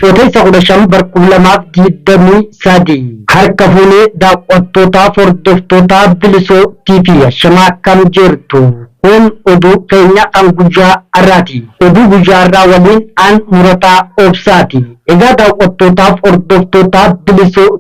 Bitootessa 15 bara 2023 harka fuunee daawwattootaa fi hordoftootaa Bilisoo TV Ashamaa akkam jirtu? Kun oduu keenya kan guyyaa har'aati. Oduu guyyaa har'aa waliin aan murataa obsaati. Egaa daawwattootaa fi hordoftootaa Bilisoo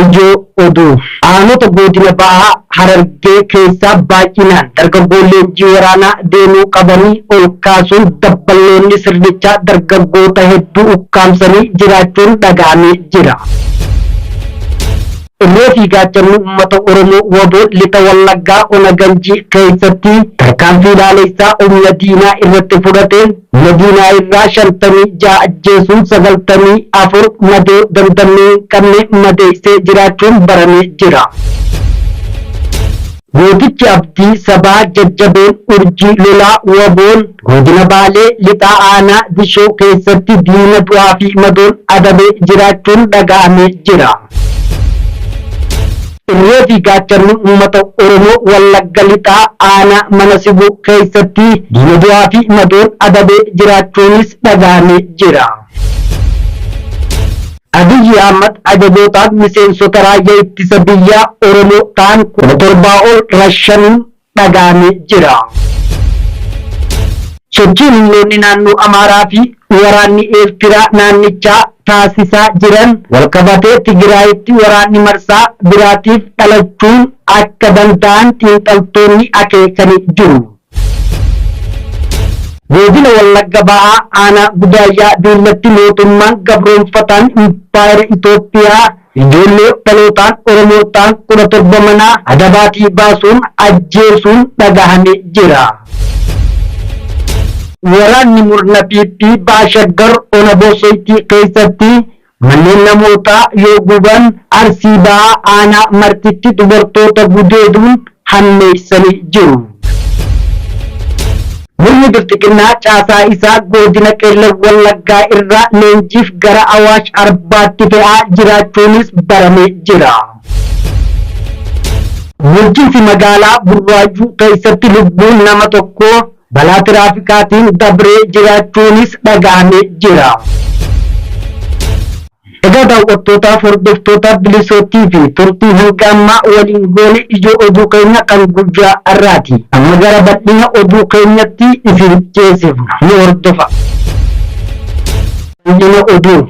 Ijoo Oduu. Aanota Goodina Baha Harargee keessaa baay'inaan dargaggoon leenjii waraanaa deemuu qabanii ol kaasuun dabballoonni sirnichaa dargaggoota hedduu ukkaamsanii jiraachuun dhaga'amee jira. Irree fi Gaachanni Uummata Oromoo wbo Lixa Wallaggaa Ona Ganjii keessatti tarkaanfii laaleessaa humna diinaa irratti fudhateen Madiinaa irraa 56 ajjeesuun 94 madoo dandamee hin qabne madeeysee jiraachuun baramee jira. Gootichi Abdii Sabaa Jajjabeen Urjii Lolaa Waboon Godina Baalee Lixaa Aanaa Dishoo keessatti diina du'aa fi madoon adabee jiraachuun dhaga'amee jira. Irree fi gaachanni uummata Oromoo Wallagga Lixaa aanaa Mana Sibuu keessatti diina du'aa fi madoon adabee jiraachuunis dhagahamee jira. Abiyyi Ahmad ajajootaan miseensota raayyaa ittisa biyyaa Oromoo ta'an 17,000 ol rashanuun dhaga'ame jira. Sochiin humnoonni naannoo Amaaraa fi waraanni Eertiraa naannichaa taasisaa jiran walqabatee Tigiraayitti waraanni marsaa biraatiif dhalachuun akka danda'an xiinxaltoonni akeekani jiru. Goodina Wallagga Bahaa Aanaa Gudaayyaa Duullatti Mootummaan Gabroomfataan Impaayera Itoophiyaa Ijoollee dhalootaan Oromoo ta'an kudha torba manaa adabaatii baasuun ajjeesuun dhagahame jira. Waraanni murna PP Baha Shaggar Ona Boosoytii keessatti manneen namootaa yoo guban, Arsii Bahaa Aanaa Martitti dubartoota gudeeduun hammeessanii jiru. Murni Bilxiginnaa caasaa isaa Godina Qellem Wallaggaa irraa leenjiif gara Awaash Arbaatti fe'aa jiraachuunis baramee jira. Bulchiinsi magaalaa Burraayyuu keessatti lubbuun nama tokkoo balaa tiraafikaatiin dabree jiraachuunis dhagahamee jira. Egaa daawwattootaaf hordoftootaa Bilisoottii fi turtii hanga ammaa waliin goone ijoo oduu keenya kan guyyaa har'aati. Amma gara bal'ina oduu keenyatti isin ceesifna. Nu hordofaa. Bal'ina oduu.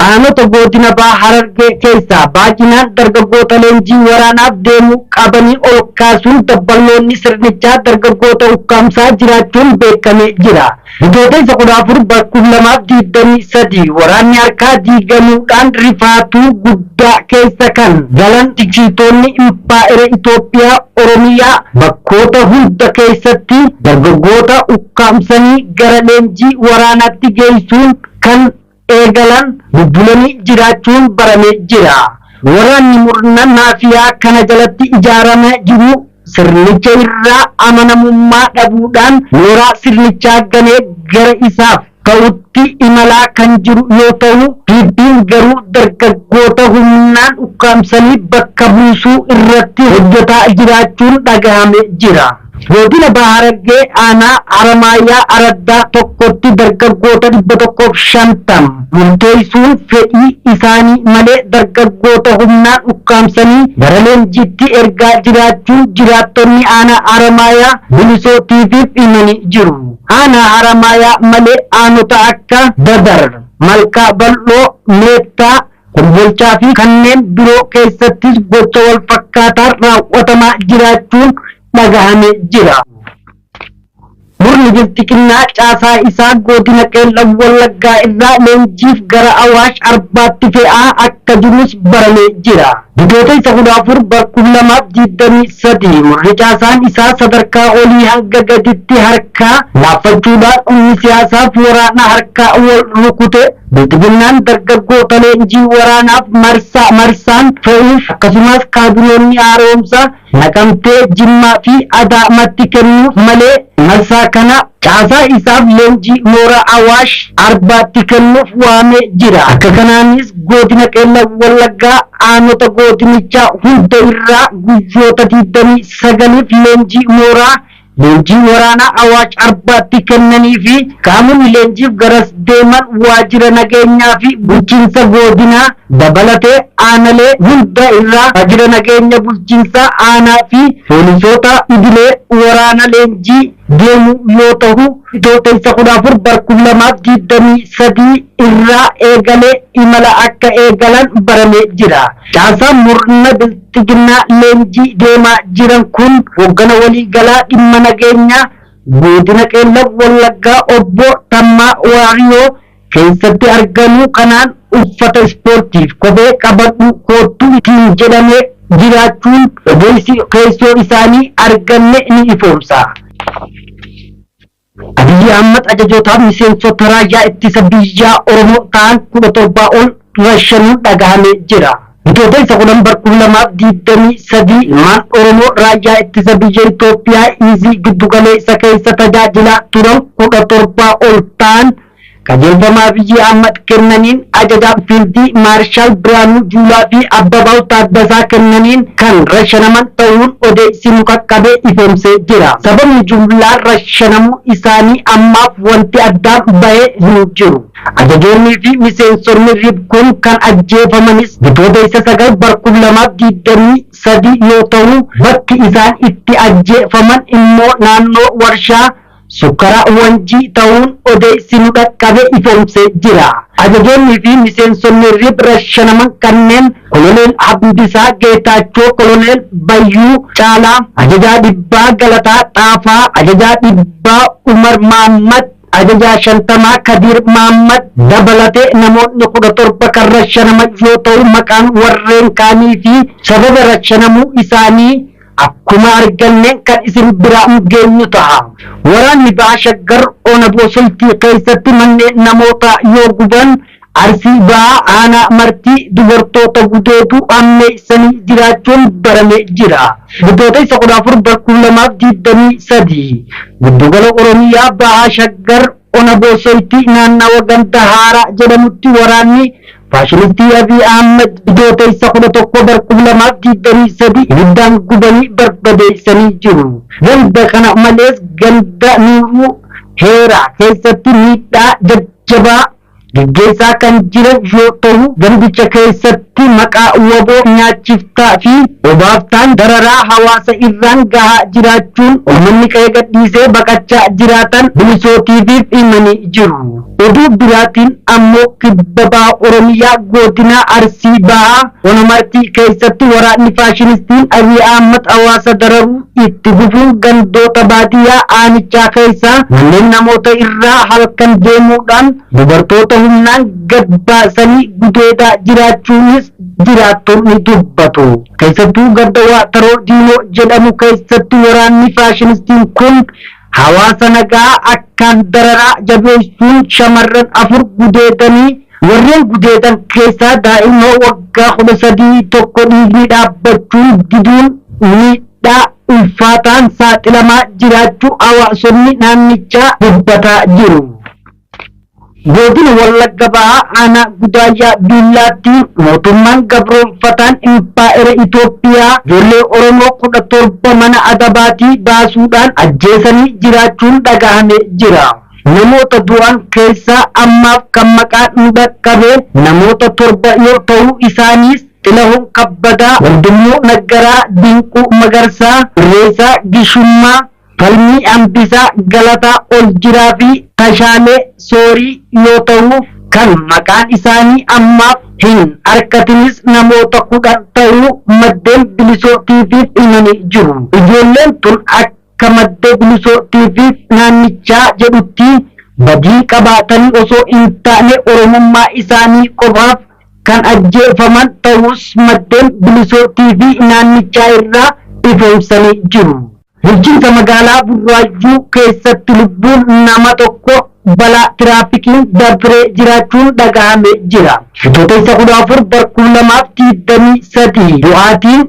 Aanota Goodina Baha Harargee keessaa baay'inaan dargaggoota leenjii waraanaaf deemuu qabanii ol kaasuun dabballoonni sirnichaa dargaggoota ukkaamsaa jiraachuun beekamee jira. Bitootessa 14 bara 2023 waraanni harkaa diigamuudhaan rifaatuu guddaa keessa kan galan finciltoonni Impaayera Itoophiyaa Oromiyaa bakkoota hunda keessatti dargaggoota ukkaamsanii gara leenjii waraanaatti geessuun kan eegalan bubbulanii jiraachuun baramee jira. Waraanni murna maafiyaa kana jalatti ijaarame jiru sirnicha irraa amanamummaa dhabuudhaan mooraa sirnichaa ganee gara isaaf ta'utti imalaa kan jiru yoo ta'u, PP'n garuu dargaggoota humnaan ukkaamsanii bakka buusuu irratti hojjetaa jiraachuun dhagahame jira. Godina Baha Harargee aanaa Haramaayyaa Araddaa tokkotti dargaggoota 150 murteessuun fedhii isaanii malee dargaggoota humnaan ukkaamsanii gara leenjiitti ergaa jiraachuu jiraattonni aanaa Haramaayaa Bilisoo TV'f himanii jiru. Aanaa Haramaayaa malee aanota akka Dadar, Malkaa Bal'oo, Meettaa, Kombolchaa fi kanneen biroo keessattis gocha wal fakkaataan raawwatamaa jiraachuun dhagahame jira. Murni Bilxiginnaa caasaa isaa Goodina Qeellam Wallaggaa irraa leenjiif gara Awaash Arbaatti fe'aa akka jirus baramee jira. Bitootessa 14 bar 2023 murni caasaan isaa sadarkaa olii hanga gaditti harkaa laaffachuudhaan humni siyaasaaf waraana harkaa wal rukute Bilxiginnaan dargaggoota leenjii waraanaaf marsaa marsaan fe'uuf akkasumas kaabinoonni haara'umsaa Naqamtee, Jimmaa fi Adaamatti kennuuf malee marsaa kana caasaa isaaf leenjii mooraa Awaash Arbaatti kennuuf waamee jira. Akka kanaanis Godina Qeellam Wallaggaa aanota godinichaa hunda irraa guyyoota 29f leenjii mooraa Leenjii waraanaa Awaash Arbaatti kennanii fi qaamonni leenjiif garas deeman waajjira nageenyaa fi bulchiinsa goodinaa dabalatee aanalee hunda irraa waajjira nageenya bulchiinsaa aanaa fi poolisoota idilee waraana leenjii deemu yoo tahu Bitootessa 14 bar 2023 irraa eegalee imala akka eegalan baramee jira. Caasaan murna Xiginnaa leenjii deemaa jiran kun Hoggana Walii Galaa Dhimma Nageenyaa Goodina Qeellam Wallaggaa Obbo Tammaa Waariyoo keessatti argamuu kanaan uffata ispoortiif kophee qabadhuu koottu ittiin jedhamee jiraachuun odeessi keessoo isaanii arganne ni ifoomsa. Abiy Ahmad ajajoota miseensota raayyaa ittisa biyyaa Oromoo ta'an 17 ol rashanuun dhagahame jira. Bitootessa 10 bar 2023 ilmaan Oromoo raayyaa ittisa biyya Itoophiyaa Iizii giddu galeessa keessa tajaajilaa turan 17 ol ta'an Qajeelfama Abiyyi Ahmad kennaniin, Ajajaan Fiildii Maarshaal Birhaanuu Juulaa fi Abbabaaw Taaddasaa kennaniin kan rashanaman tahuun odeeysi nu qaqqabe ifoomsee jira. Sababni jumlaan rashanamuu isaanii ammaaf wanti addaan bahe hin jiru. Ajajoonnii fi miseensonni rib kun kan ajjeefamanis Bitooteysa 9 bar 2023 yoo tahu, bakki isaan itti ajjeefaman immoo naannoo warshaa Sukkara Wanjii ta'uun odeessi nu dhaqqabe ifoomsee jira. Ajajoonni fi miseensonni rib rashanaman kanneen Koloneel Hamdisaa Geetaachoo, Koloneel Bayyuu Caalaa, Ajajaa Dhibbaa Galataa Xaafaa, Ajajaa Dhibbaa Umar Maammad, Ajajaa Shantamaa Kadiir Maammad dabalatee namoonni 17 kan rashanaman yoo ta'u maqaan warreen kaanii fi sababa rashanamuu isaanii Akkuma arganneen kan isin biraan geenyu taha. Waraanni Baha Shaggar Ona Boosoltii keessatti manneen namootaa yoo guban, Arsii Bahaa Aanaa Martii dubartoota gudeeduu hammeessanii jiraachuun baramee jira. Bitootessa 14 bar 2023 Giddugala Oromiyaa Baha Shaggar Ona Boosoltii naannawa ganda Haaraa jedhamutti waraanni Faashinistii Abiy Ahmed Bitootessa 11 bar 2023 ibiddaan gubanii barbadeessanii jiru. Ganda kana malees ganda Nuuruu Heeraa keessatti miidhaa jajjabaa geggeessaa kan jiran yoo tahu gandicha keessatti maqaa wbo nyaachiftaa fi obaaftaan dararaa hawaasa irraan gahaa jiraachuun ummanni qe'ee gadhiisee baqachaa jiraatan Bilisoo TV'f himanii jiru. Oduu biraatiin ammoo kibba baha Oromiyaa goodinaa Arsii bahaa ona Martii keessatti waraanni faashinistiin Abiy Ahmad hawaasa dararuu itti fufuun gandoota baadiyyaa aanichaa keessaa manneen namoota irraa halkan deemuudhaan dubartoota humnaan gad baasanii gudeedaa jiraachuunis jiraattonni dubbatu. Keessattuu ganda Waataroo Diinoo jedhamu keessatti waraanni faashinistiin kun Hawaasa nagaa akkaan dararaa jabeessuun shamarran afur gudeedanii warreen gudeedan keessaa daa'ima waggaa kudha sadii tokko dhiigni dhaabbachuun diduun miidhaa ulfaataan saaxilamaa jiraachuu hawaasonni naannichaa dubbataa jiru. Godina Wallagga Bahaa Aanaa Gudaayyaa Biillaatti mootummaan gabroomfataan Impaayera Itoophiyaa ijoollee Oromoo kudha torba mana adabaatii baasuudhaan ajjeesanii jiraachuun dhagahame jira. Namoota du'an keessaa ammaaf kan maqaan nu dhaqqabe namoota torba yoo ta'u isaaniis Xilahun Kabbadaa, Wandimuu Naggaraa, Dinquu Magarsaa, Irreessaa Gishummaa, Falmii Hambisaa Galataa Oljiraa fi Tashaalee Soorii yoo ta'u, kan maqaan isaanii ammaaf hin arkatinis namoota 10 ta'uu maddeen Bilisoo TV'f himanii jiru. Ijoolleen tun akka madde Bilisoo TV naannichaa jedhutti badii qabaatanii osoo hin taane Oromummaa isaanii qofaaf kan ajjeefaman ta'uus maddeen Bilisoo TV naannichaa irraa ifoomsanii jiru. Bulchiinsa magaalaa Burraayyuu keessatti lubbuun nama tokko balaa tiraafikiin dabree jiraachuun dhagahame jira. Bitootessa 14 bar 2023 du'aatiin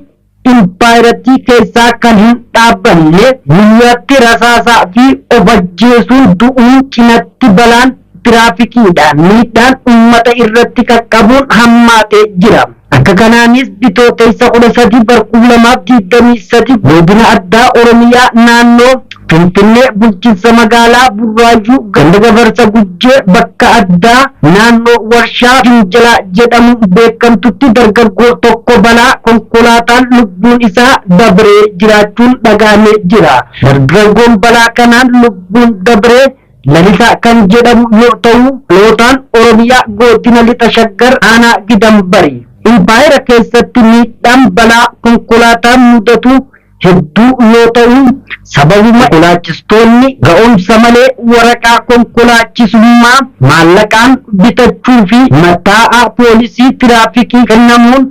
impaayerattii keessaa kan hin dhaabbanne guyyaatti rasaasaa fi of ajjeesuun du'uun cinatti balaan tiraafikiidhaan miidhaan ummata irratti qaqqabuun hammaatee jira. Akka kanaanis Bitootessa 13 bar 2023 Godina Addaa Oromiyaa Naannoo Finfinnee Bulchinsa Magaalaa Burraayyuu Ganda Gafarsa Gujjee Bakka Addaa Naannoo Warshaa Finjilaa jedhamuun beekamtutti dargaggoo tokko balaa konkolaataan lubbuun isaa dabree jiraachuun dhagahamee jira. Dargaggoon balaa kanaan lubbuun dabree Lalisaa kan jedhamu yoo ta'u, dhalootaan Oromiyaa Goodina Lixa Shaggar Aanaa Gidam Bari. Impaayera keessatti miidhaan balaa konkolaataan mudatu hedduu yoo ta'u, sababuma konkolaachistoonni ga'umsa malee waraqaa konkolaachisummaa maallaqaan bitachuu fi mattaa'a poolisii tiraafikii kennamuun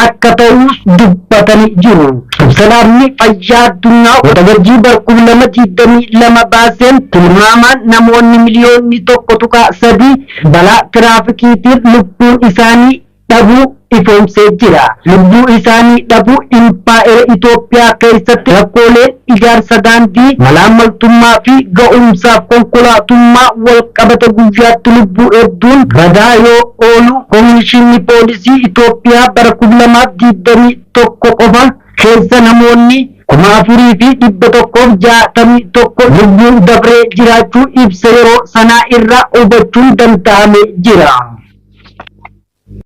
akka ta'uus dubbatanii jiru. Ibsa Dhaabni Fayyaa Addunyaa Waxabajjii bara 2022 baaseen tilmaamaan namoonni miliyoonni 1.3 balaa tiraafikiitiin lubbuun isaanii dhabuu ifoomsee jira. Lubbuu isaanii dhabuu Impaayera Itoophiyaa keessatti rakkoolee ijaarsa daandii, malaammaltummaa fi ga'umsaaf konkolaatummaa walqabata guyyaatti lubbuu hedduun badaa yoo oolu Komishiinni Poolisii Itoophiyaa bara 2021 qofa keessa namoonni 4,161 lubbuun dabree jiraachuu ibsa yeroo sanaa irraa hubachuun danda'amee jira.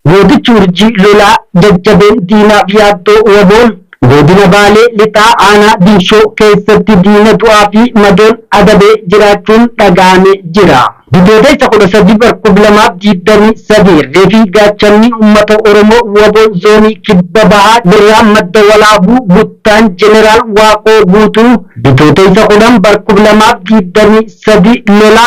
Gootichi Urjii lolaa jajjabeen diinaaf yaaddoo Wboon Godina Baalee Lixaa Aanaa Diinshoo keessatti diina du'aa fi madoon adabee jiraachuun dhaga'ame jira. Bitooteessa 13 bar 2023 irree fi gaachanni uummata Oromoo wbo Zoonii Kibba Bahaa Birraa Madda Walaabuu Buttaan Jeneraal Waaqoo Guutuu Bitooteessa 10 bar 2023 lola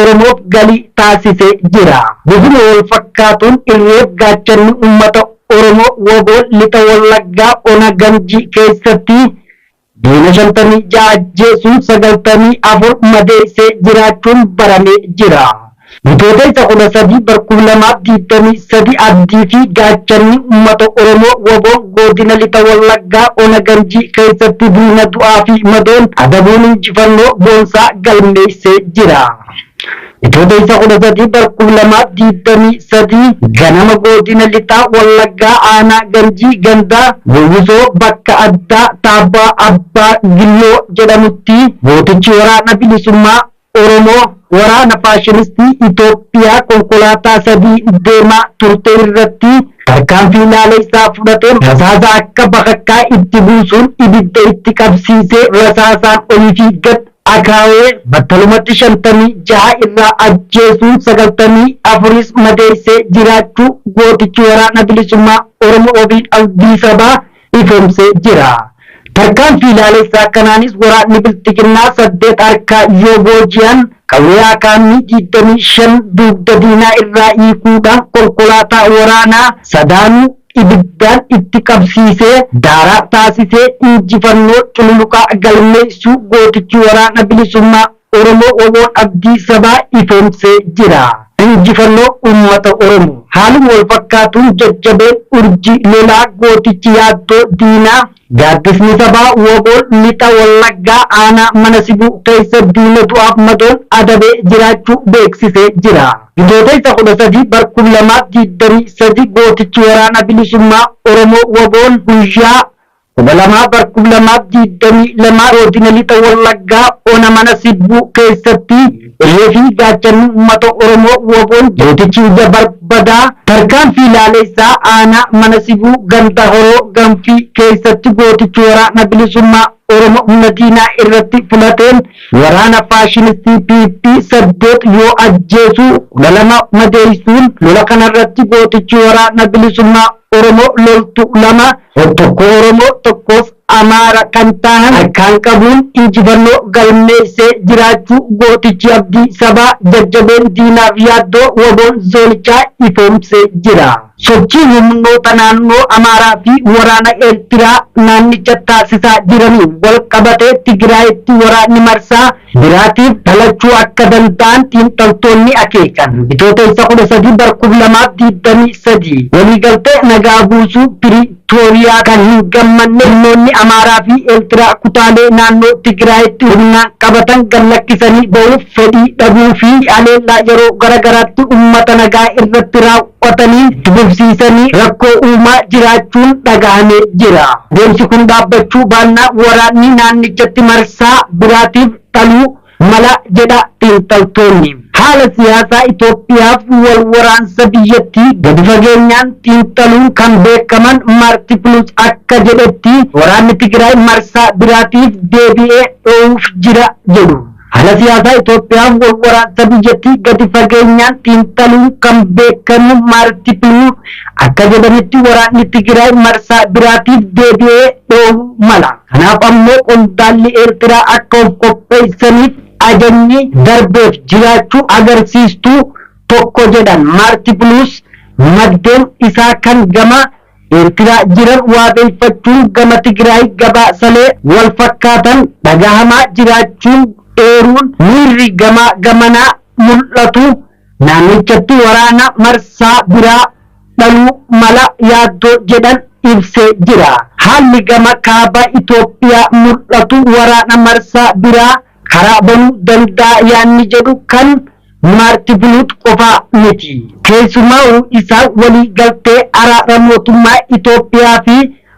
Oromoof galii taasisee jira. Bifuma walfakkaatuun irreef gaachanni uummata Oromoo wbo Lixa Wallaggaa ona Ganjii keessatti diina 56 ajjeesuun 94 madeessee jiraachuun baramee jira. Bitootessa 13 bar 2023 abdii fi gaachanni uummata Oromoo wbo Godina Lixa Wallaggaa Ona Ganjii keessatti diina du'aa fi madoon adabuun injifannoo boonsaa galmeessee jira. Bitootessa 13 bara 2023 ganama Godina Lixa Wallaggaa Aanaa Ganjii Ganda Gowwisoo bakka addaa Taabbaa Abbaa Gilloo jedhamutti gootichi waraana bilisummaa Oromoo waraana faashilistii Itoophiyaa konkolaataa sadii deemaa turte irratti tarkaanfii naaneysaa fudhateen rasaasa akka bakakkaa itti buusuun ibidda itti qabsiisee rasaasaan olii fi gad akaawee battalumatti 56 irraa ajjeesuun 94s madeeysee jiraachuu gootichi Waraana Bilisummaa Oromoo Wabiin Abdii Sabaa ifoomse jira. Tarkaanfii laalessaa kanaanis waraanni Bilxiginnaa saddeet harkaa yoo booji'an, qawwee AKM 25 dugda diinaa irraa hiikuudhaan konkolaataa waraanaa sadaanuu ibiddaan itti qabsiisee daaraa taasisee injifannoo cululuqaa galmeessuu gootichi Waraana Bilisummaa Oromoo wbo abdii sabaa ifoomsee jira. Injifannoo Uummata Oromoo! Haaluma wal fakkaatuun jajjabeen urjii lolaa gootichi yaaddoo diinaa Gaaddisni Sabaa wbo Lixa Wallaggaa aanaa Mana Sibuu keessa diina du'aaf madoon adabee jiraachuu beeksisee jira. Bitootessa 13 bar 2023 gootichi Waraana Bilisummaa Oromoo wbo guyyaa. 12 bar 2022 godina lixa wallaggaa ona mana sibbuu keessatti irree fi gaachanni uummata oromoo woboon gootichi ija barbadaa tarkaanfii laaleessaa aanaa mana sibuu ganda horoo ganfii keessatti gootichi waraana bilisummaa oromoo humna diinaa irratti filateen waraana faashinistii pp saddeet yoo ajjeesu kudha lama madeessuun lola kanarratti gootichi waraana bilisummaa oromoo loltuu lama Tokkoo Oromoo tokkoof Amaara kan taahan harkaan qabuun injifannoo galmeessee jiraachuu gootichi abdii sabaa, jajjabeen diinaaf yaaddoo waboon zoonichaa ifoomsee jira. Sochii humnoota naannoo Amaaraa fi waraana Eertiraa naannicha taasisaa jiraniin walqabatee Tigraayitti waraanni marsaa biraatiif dhalachuu akka danda'an xiinxaltoonni akeekan. Bitootessa 13 bara 2023 waliigaltee nagaa buusuu Piriitooriyaa kan hin gammanne humnoonni Amaaraa fi Eertiraa kutaalee naannoo Tigiraayitti humnaan qabatan gad lakkisanii bahuuf fedhii dhabuu fi haleellaa yeroo gara garaatti uummata nagaa irratti raawwatamu qotanii dbufsiisanii rakkoo uumaa jiraachuun dhagahame jira. Deemsi kun dhaabbachuu baannaan waraanni naannichatti marsaa biraatiif dhaluu mala jedha xiinxaltoonni. Haala siyaasaa Itoophiyaaf wal waraansa biyyattii gadi fageenyaan xiinxaluun kan beekaman Maarti Piluus akka jedhetti waraanni Tigraay marsaa biraatiif deebi'ee dhoohuuf jira jedhu. Haala siyaasaa Itoophiyaaf walwaraansa biyyattii gadi fageenyaan xiinxaluun kan beekamu Maarti Piluur akka jedhanitti waraanni Tigiraay marsaa biraatiif deebi'ee dhohuu mala. Kanaaf ammoo qondaalli Eertiraa akka of qopheessaniif ajajni darbeef jiraachuu agarsiistuu tokko jedhan Maarti Piluus maddeen isaa kan gama Eertiraa jiran waabeeffachuun gama Tigraay gabaasalee wal fakkaatan dhagahamaa jiraachuun eeruun miirri gamaa gamanaa mul'atu naannichatti waraana marsaa biraa dhaluu mala yaaddoo jedhan ibsee jira. Haalli gama kaaba Itoophiyaa mul'atu waraana marsaa biraa karaa banuu danda'a yaanni jedhu kan Maarti Biluut qofaa miti. Keessumaa'uu isa walii galtee araara mootummaa Itoophiyaa fi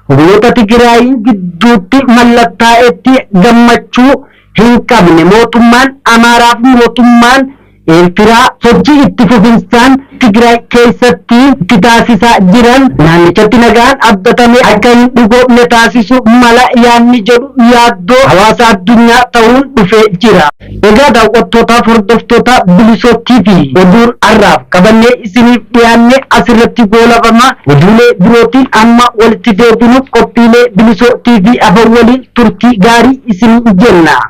humnoota Tigiraayiin gidduutti mallattaa'etti gammachuu hin qabne mootummaan Amaaraa fi mootummaan Eertiraa sochii itti fufinsaan Tigraay keessatti itti taasisaa jiran naannichatti nagaan abdatame akka hin dhugoomne taasisu mala yaadni jedhu yaaddoo hawaasa addunyaa ta'uun dhufee jira. Egaa daawwattootaaf hordoftoota Bilisoo TV oduun har'aaf qabannee isiniif dhiyaanne asirratti goolabama. Oduulee birootiin amma walitti deebinuuf qophiilee Bilisoo TV hafan waliin turtii gaarii isiniin jenna.